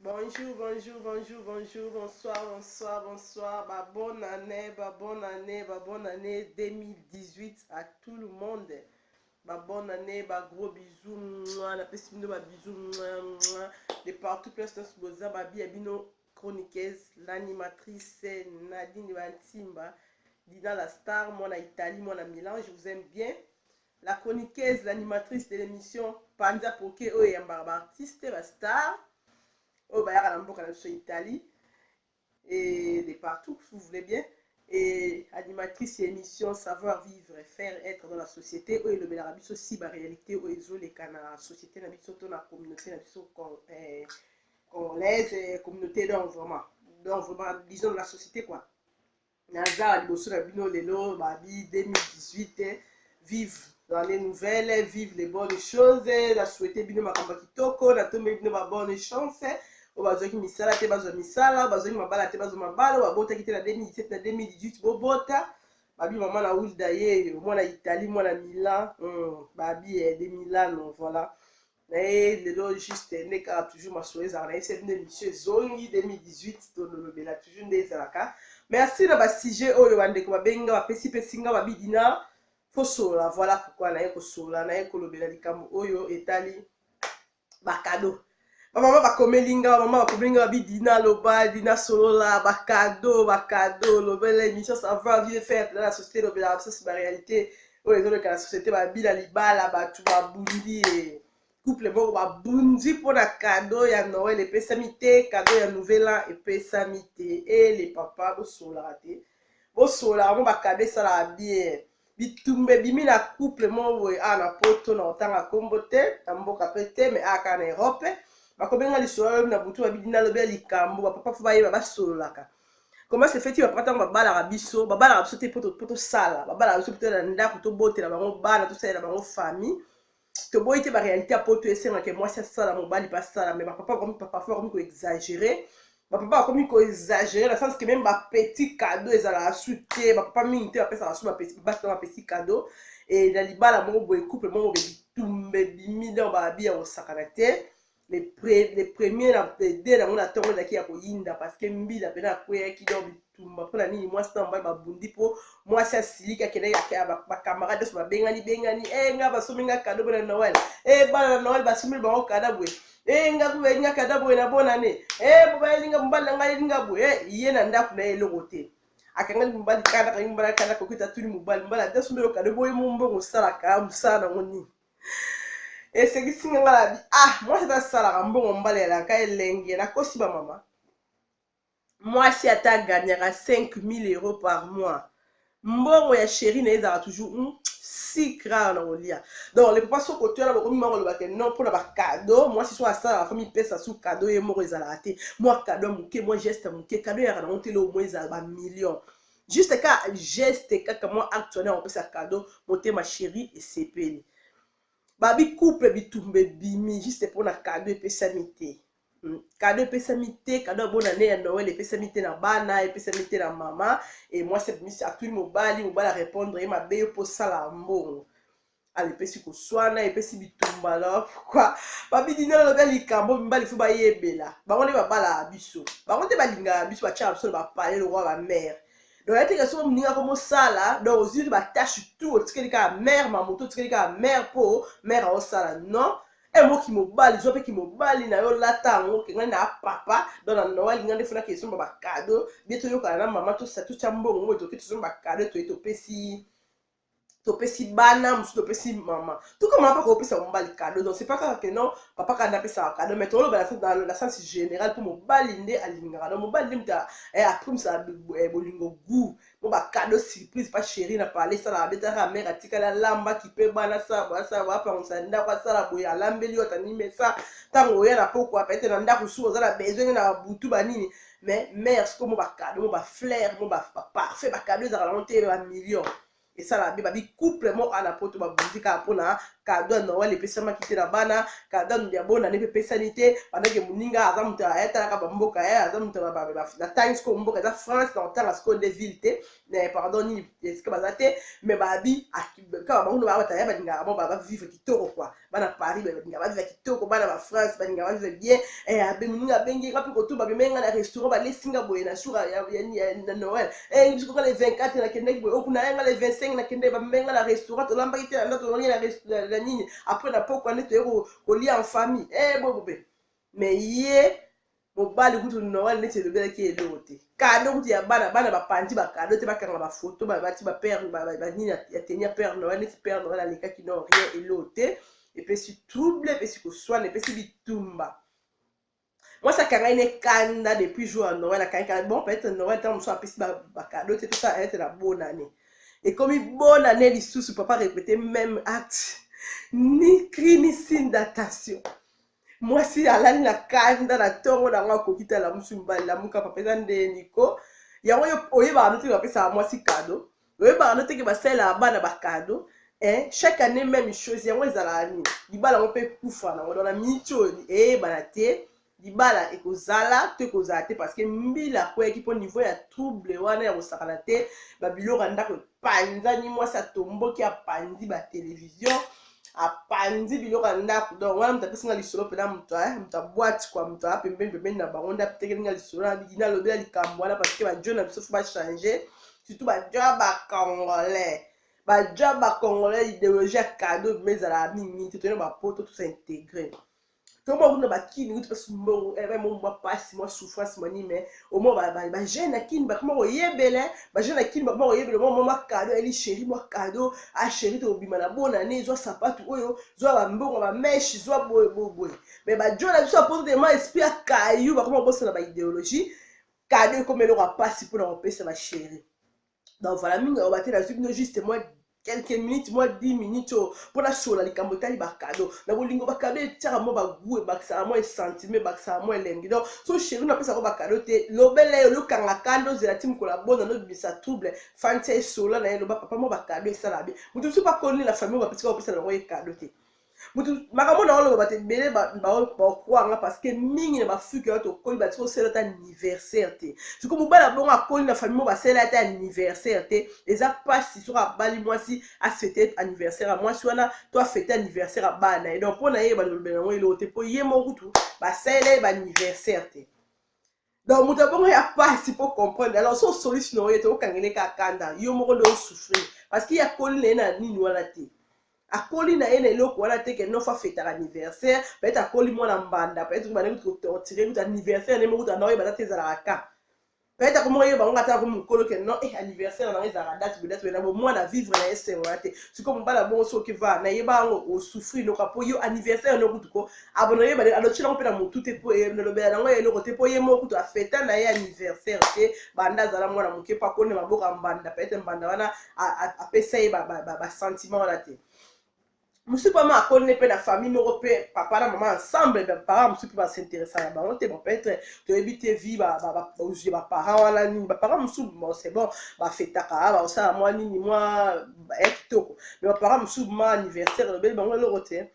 Bonjour, bonjour, bonjour, bonjour, bonsoir, bonsoir, bonsoir, ba bonne année, ba bonne année, ba bonne année 2018 à tout le monde. Ba bonne année, ba gros bisous, mouah, na pesi bino ba bisous, mouah, mouah, de partout place tous boza ba bia bino chroniqueuse, l'animatrice Nadine Bantimba, Dina la star, moi na Italie, moi na Milan, je vous aime bien. La chroniqueuse, l'animatrice de l'emission Panza Poke oyo eyambaka ba artistes, ba stars oyo bayaka na mboka na biso Italie et de partout si vous voulez bien et animatrice ya émission savoir vivre faire être dans la société oyo elobelaka biso si ba réalité oyo ezoleka na société na biso to na communauté na biso eh, congolaise eh, communauté donc vraiment donc vraiment disons la société quoi naza liboso na bino lelo babi 2018 vive l'année nouvelle vive les bonnes choses na souhaite bino makambo ya kitoko natombeli bino babonne chance oyo bazwaki misala te bazwa misala bazwaki mabala te bazwa mabala oyo babotaki te na 2017 na 2018 bobota babi mama na wilda ye mwana italie mwana milan hmm, babi eh, de milano voilà na ye lelo juste nde kaka toujours masolo ezalaka na ye sebi nde mission ezongi 2018 tololobela toujours nde ezalaka merci na basujet oyo bandeko babengi nga bapesi pesi nga babidi na fosolola voilà pourkoi naye kosolola naye kolobela likambo oyo etali bakado bamama bakomeli nga bamama bakomeli nga babi dina loba dina solola bakado bakado lobela émission savoir vie faire na société lobela basosi baréalité oyo ezoleka na société babila libala bato babundi ye couple moko babundi mpo na kado ya noel epesami te kado ya nouvel an epesami te e le papa bosolaka te bosolaka mo bakado esalaka bien bitumba ebimi na couple moko boye awa na poto na kotanga nkombo te na mboka mpe te me awa kaka na erope bakobenga lisolo lobi na butu babidi nalobi ya likambo bapapa fo bayeba basololaka comment se fait-il bapapa ntango babalaka biso babalaka biso te mpo tosala babalaka biso mpo na ndako tobotela bango bana tosalela bango famille toboyi te baréalité ya poto esengaka mwasi asala mobali mpe asala mais bapapa bakomi parfois bakomi koexagere bapapa bakomi koexagere na sens que meme bapetit cadeau ezalaka su te bapapa mingi te bapesaka su basi na bapetit cadeau e na libala moko boye couple moko boye bitumba ebimi donc babi ya kosakana te le, pre, le premier na de nango na ntongo ezalaki ya koyinda parceke mbila mpena akweyaki donc bitumba mpo na nini mwasi na mobali babundi mpo mwasi asiliki akendaki bacamarade nyonso babengani bengani e eh, nga basombi nga kado boye na noel e eh, bana na noel basombeli bango kada boye e eh, nga boyeli nga kada boye na bonane e bobayeli nga mobali na ngai yeli nga boye ye na ndako na ye eloko te akangaki mobali kada akangi mobali kada koki tatuni mobali mobali adasombeli okado boye mombongo osalaka mosala nango nini esekisi nga nga labi ah mwasi ata asalaka mbongo mbala elaka elengi nakosi bamama mwasi ata aganyaka 5000 euro par mois mbongo ya sheri na ye ezalaka toujours mm, si rare na kolia donc le papa soko toyana bokomi mwa kolobaka non mpona bakado mwasi so asalaka fo mipesa su kado ye moko ezalaka te mwa kado ya moke mwa geste ya moke kado eyaka nango te leo mwa ezala bamillion juste ka geste kaka mwa acte wana ya kopesa cadeau motema chéri esepeli babi couple bitumba ebimi juste mpo na cadeau epesami te hmm, cadeau epesami te cadeau ya bonane ya noel epesami te na bana epesami te na mama e mwasi abimisi atuli mobali mobali arepondre ye mabe yo mpo osala mbongo ala epesi koswana epesi bitumba na pourkui babidina alobi likambo mibali fo bayebela bango nde babalaka biso bango nde balingaka biso batyaka biso na bapale lokwa bamare donc yateke soko moninga ko mosala donc ozwi batache tout otikeli kaka mare mamoto otikeli kaka mare mpo mare aosala non emo kimobali zwa mpe kimobali na yo lata yango okenga na papa don na noel nga nde fonaki ezomba bakado bie toyokana na mama tosatutya mbongo oyo toke tozomba bakado toye topesi topesi bana mosusu topesi mama tuka mama mpaka opesa mobali kado donc c'est pas kaka que non papa kanda apesaka kado mais toloba na sens général mpo mobali nde alingaka donc mobali nde moto eh, aprimisaka eh, bolingo gout mpo bakado surprise pa chéri na pale esalaka nde taka mare atikali alamba kipe bana asala boye asala boye apangusa ndako asala boye alambeli yo atanimesa ntango oya na pokwa pete na ndako suka oza na besoin na butu banini mais mère sikoyo mo bacado mo baflaire mo baparfait bacado ezalaka nango te bamillion esala be babi couple mo ana poto babundi kaka mpona kado ya noel epesamaki te na bana kado ya bonane mpe epesani te bandaki moninga aza moto ayatalaka bamboka ye eh, aza moto na time sikoyo mboka eza france na kotanga sikoyo nde ville te mais pardon nini esika baza te mais babi kaka bango baa bataya balingaka bango bavivre kitoko kua bana paris balinga bavivre kitoko bana ba france balinga bavivre bien eh, abemuninga abengi nga mpe kotu babimai nga na restaurant balesi nga boye na jour na noël eh, biso nga le 24 nakendaki boye okuna oh, ya nga le 25 nakendaki babimai nga na restaurant tolambaki te na nda tolongi na nini après na pokua nde toye kolia en famille eh, bobobe mais ye mobali kutu noel neti elobelaki ye eloko te kado kutu ya bana bana bapanzi bakado te bakanga bafoto babati bapere banini ya teni ya pere noel neti pere noel alekaki no rien eloko te epesi trouble epesi koswana epesi bitumba mwasi akangaki ne kanda depuis jour ya noel akangi kanda bon peut-être noel ntango mosusu apesi bakado te tosa ayete na bonane ekomi bonane lisusu papa repete même acte ni cri ni signe d'attention mwasi alali na kanda na ntongo na yango akoki te alamusi mobali lamuka papa eza nde niko yango oyebaka no teke bapesaka mwasi kado oyebaka no teke basalelaka bana bakado eh, chaque année même chose yango ezalaka nini libala yango mpe ekufa nango dona miniti oyo eyebana te libala ekozala to ekozala te parce que mbila akweyaki mpo niveau ya trouble wana ya kosakana te babiloko ya ndako epanzani mwasi atomboki apanzi batelevizio apanzi biloko ya ndako donc wana moto apesi nga lisolo mpena moto eh, moto abwati kwa moto aa pembeni pembeni na bango nde atekeli nga lisolo nalobela likambo wana parce que bajo na biso fo bachange surtout bajo ya bacongolais bajo ya bacongolais ideologie ya cadeau bima ezalaka mingi mingi te toyena bapoto tosa integre tomo akuti na bakini kuti mpasi mbongo eh, mo mwa mpasi mwa souffrance mwa nini me omo bajeune na kini bakoma koyebele bajeune na kini bakoma koyebele omo mwa kado eli sheri mwa kado a ah, sheri tokobima na bona ne zwa sapatu oyo zwa bambongo bameshe zwa boye boye boye me bajo na biso bapoto tema esprit ya kayu bakoma kobosana baideologie kado ekoma eloko ya mpasi mpona kopesa basheri donc voilà mingi aloba te nazwi bino juste moi quelques minutes mwa 10 minutes oyo mpo nasolola likambo etali bakado na bolingo bakado etiaka mwa bagout ebakisaka mwa esentime ebakisaka mwa elengi donc so sheri napesaka bakado te lobela yo lokanga kanda ozela ti mokolo abona nobimisa trouble fantia esola na ye loba papa mwa bakado esala be moto mosusu bakoni na famille oyo bapesaka opesa na bango ye kado te mutu makambo na oloba te ebele baokwanga parce que mingi na bafuki wana tokoli batiki osala ata anniversaire te siko mobali abongo akoli na famille mo basala ata anniversaire te eza mpasi soki abali mwasi afete anniversaire ya mwasi wana to afete anniversaire ya bana na ye donc mpo na ye balobela yango eloko te mpo ye moko kutu basalela ye baanniversaire te donc moto abongo ya pasi mpo comprendre alors so osolisi na oye te okangele ka kanda yo moko nde osouffrir parce que ye akoli na ye na nini wana te akoli na ye na eloko wana te ke nofa fetaka anniversaire peut-être akoli mwana mbanda peut-être bana kutu kotortire kutu anniversaire nde moko tana oyebata te ezalaka ka peut-être akomoko yeba ngo ata ko mokolo ke non eh anniversaire na ezalaka date be date be na bo mwana vivre na esengo na te sikoyo mobala bongo soki va na yeba yango osouffrir noka po yo anniversaire no kutu ko abo na ye bale alochi nango mpe na motu te mpo elobela nango ya eloko te mpo ye moko kutu afeta na ye anniversaire te banda azala mwana moke mpo akoni na maboko ya mbanda peut-être mbanda wana apesa ye basentiment wana te mosusu mpe ama akoni mpe na famille moko mpe papa na mama ensemble baparent mosusu mpe basinteresa na bango te peut-être toyebi te vi bozwi ya baparent wana nini baparent mosusu bon c'est bon bafetaka bakosala mwa nini mwa ya kitoko mais baparent mosusu ma anniversaire elobeli bango eloko te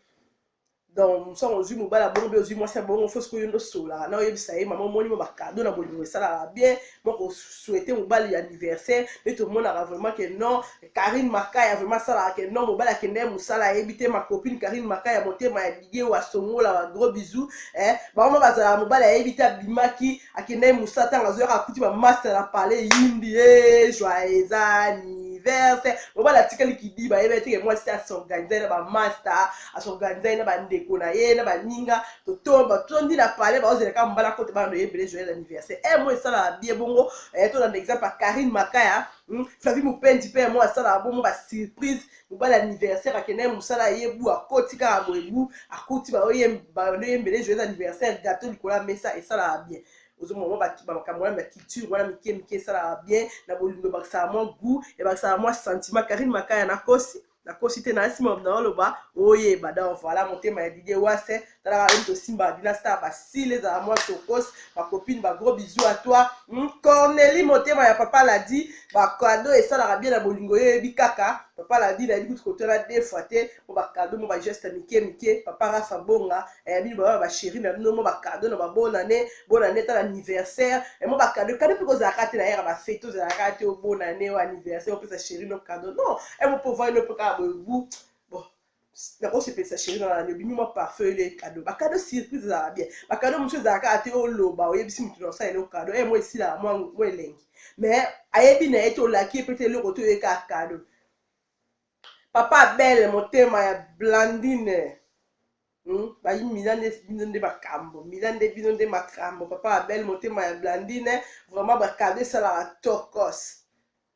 donc mosanga ozwi mobali ya bongo mpe ozwi mwasi ya bongo fo sikoyo nde osolaka na oyebisa ye mama omoni mo bakado na bolingo esalaka bien moko souhaite mobali ya anniversaire mpe tomonaka vraiment ke non karine makaya vraiment asalaka ke non mobali akende ye mosala ayebi te makopine karine makaya motema ya bidie oyo asongola ba gros bisou eh, bango bazalaka mobali ayebi te abimaki akende ye mosala ntango azoyaka akuti bamasta na palais yindi e eh, joyeux anniversaire mobali atikali kidiba ayebi te ke mwasi asorganize na bamasta asorganisaki na bandeko na ye na baninga totomba tondi na palais baozelaka mbala kote bana na ye ebele joyel anniversaire e eh, mo esalaka bie bongo eh, tolanda exemple ya karine makaya hmm, flavi mopendi mpe mo asalaka bongo basurprise mobali anniversaire akenda ye mosala ye bu akoti kaka boye bu akuti baoyembele joyel anniversaire gato likolo ya mesa esalaka bien ozomona mwa makambo wana ya culture wana mike mike esalaka bien na bolingo ebakisaka mwa gout ebakisaka mwa sentiment karine makaya na kosi nakosi te na nsima naoloba oyeba donc voilà motema ya didie wase talaka oyo tosimba dina star basile ezala mwa tokos bacopine bagros bizu a toi hmm, corneli motema ya papa ladi bakado esalaka bien na bolingo yo eyebi kaka papa ladi nayebi kutu kotala defoi te mpo bakado mo bageste mike mike papa rafa bonga eh, bino baba ba chérie na bino mo ba cadeau na ba bonne année bonne année tala anniversaire et eh, mo ba cadeau cadeau piko za kati na yera ba fête to za kati o oh, bonne année o oh, anniversaire o oh, pesa chérie no cadeau non et mo po voir no po ka bo bu bon na ko se pesa chérie na yo bino ma parfum le cadeau ba cadeau surprise za bien ba cadeau monsieur za kati o loba o yebisi mutu na sa le cadeau et eh, mo esila mo mo elengi mais ayebi na ye to laki pe te eloko to ye ka cadeau papa belle motema ya blandine Hum, bayi mila nde bino nde makambo mila nde bino nde makambo papa abel motema ya blandine vraiment bakado esalaka tokos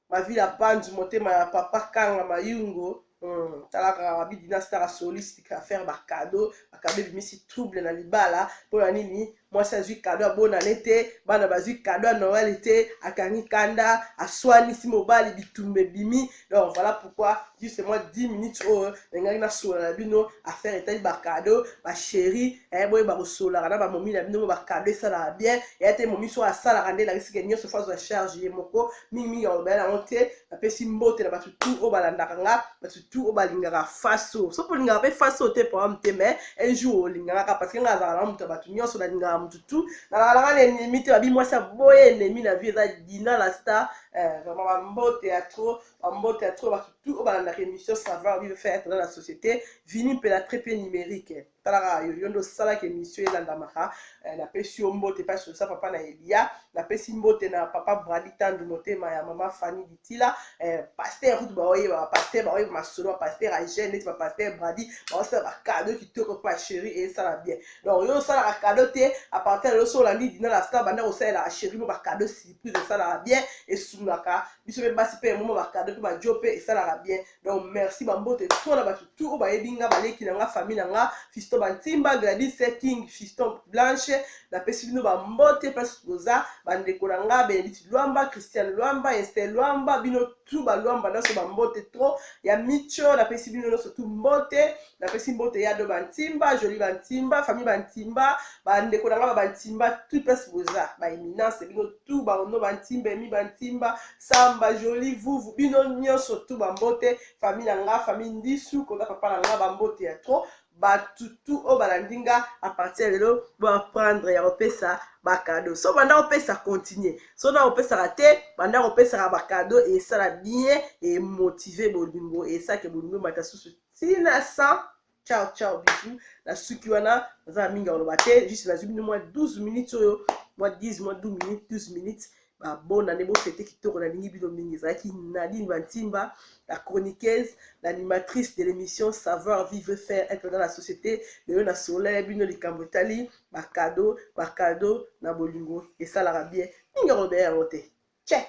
mavila bandu motema ya papa kanga mayungo hum, tala kaka babi dinastara soliste affaire bakado bakado ebimisi trouble na libala mpo na nini mwasi azwi kado ya bonane te bana bazwi kado ya noel te akangi kanda aswanisi mobali bitumba ebimi donc voilà pourquoi juste moi 10 minutes oyo nalingaki nasolola na bino affaire etali bakado basheri eh, boye bakosololaka na bamomi na bino bo bakado esalaka bien eya te momi so asalaka nde elakisike nyonso fo azwa charge ye moko mingimingi alobela yango te napesi mbote na bato tu oyo balandaka nga bato tout oyo balingaka face oyo soki olingaka mpe face oyo te problème te mais un jour olingaka kaka parce que ngai azalaka na moto ya bato nyonso nalingaka moto tout nalakalaka na ennemi te babi mwasi aboye ennemi na vie eza dina la star eh, vraiment bambote ya trop bambote ya trop bato tout oyo balandaka émission savoir vivre faire être dans la société vini mpe la très mpe numérique talaka yo yo nde osalaki emission elandamaka eh, napesi yo mbote mpe asosa papa na elia napesi mbote na papa brali tandu motema ya mama fani ditila eh, paster kutu baoyeba bapaster baoyeba masolo bapaster agene neti bapaster bradi baosala bakado kitoko mpo asheri esala bien donc yo osalaka kado te apartir lelo so olandi dina la star banda kosalela asheri mo bakado surprise esalaka bien esungaka biso mpe basi mpe emomo bakado mpe bajo mpe esalaka bien donc merci bambote to na bato tu oyo bayebi nga baleki na nga famille na nga fiston bantimba gladis king fiston blanche napesi bino bambote place boza bandeko na nga benedite lwamba christian lwamba ester lwamba bino tu balwamba nyonso bambote tro ya micho napesi bino nyonso tu mbote napesi mbote ya do bantimba joli bantimba famille bantimba bandeko na nga ba bantimba tu place boza baeminence bino tout ba ondo ba ntimba emi ba ntimba samba jolie vuvu bino nionso tout ba mbote famille na nga famille ndisu koda papa na nga ba mbote ya trop bato tout oyo balandi nga à partir ya lelo bo apprendre ya kopesa bakado so banda kopesa continue so na kopesaka te banda kopesaka bakado esala bien emotive bolingo esake bolingo emata susu ntina 100 ciao ciao bisous na suki wana naza na mingi ya koloba te juste nazwi bino mwa 12 minutes oyo mwa 10 mwa 12 minutes 12 minutes babona nde bofete kitoko nalingi bino mingi ezalaki nadine bantimba la chroniqueuse l'animatrice de l'émission savoir vivre faire être dans la société lelo na solo ya bino likambo etali bakado bakado na bolingo esalaka bien mingi akoloba yango te check